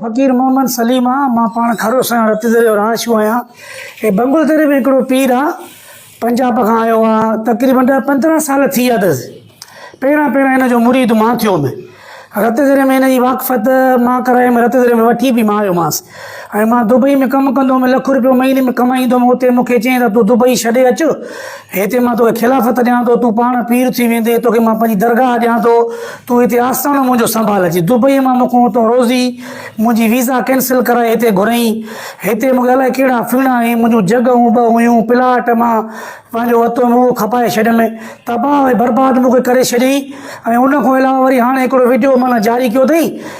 فقير محمد سليم آ مان پاڻ کارو سان رت دريو رهائشو آهيان اي بنگل دري ۾ هڪڙو پير آ پنجاب کان آيو آ تقريبا ڏهه پندرهن سال ٿي ويا اٿس پهريان پهريان هن جو مريد مان ٿيو ۾ رت دري ۾ هن جي واقفت مان ڪرائي ۾ رت دري ۾ وٺي به مان آيومانس ۽ مان دبئي ۾ ڪم ڪندو هوم لک روپيو مهيني ۾ ڪمائيندو هوم اتي مون کي چيائين ته تون دبئي ڇڏي اچ هتي مان توکي خلافت ڏيان ٿو، تون پاڻ پير ٿي ويندين، توکي مان پنهنجي درگاهه ڏيان ٿو، تون هتي آستاڻو منهنجو سنڀالجي. دبئيء مان مون کان اتان روزي، منهنجي ويزا ڪينسل ڪرائي هتي گهريائين. هتي مون کي الائي ڪهڙا ڦيڻا ۽ منهنجون جڳهون به هيون، پلاٽ مان پنهنجو وتو موهه کپائي ڇڏيم، تباهه ۽ برباد مون کي ڪري ڇڏيائين ۽ ان کان علاوه وري هاڻي هڪڙو وڊيو معنيٰ جاري ڪيو اٿئي،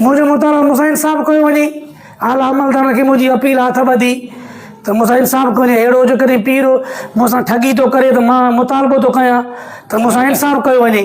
منهنجو مطالعو مزاحم صاحب ڪيو وڃي اعليٰ عملدارن کي منهنجي اپيل آ هٿ ٻڌي ته مزاحم صاحب ڪو وري اهڙو جيڪڏهن پير مون سان ٺڳي ٿو ڪري ته مان مطالبو ٿو ڪيان ته مزاحم صاحب ڪيو وڃي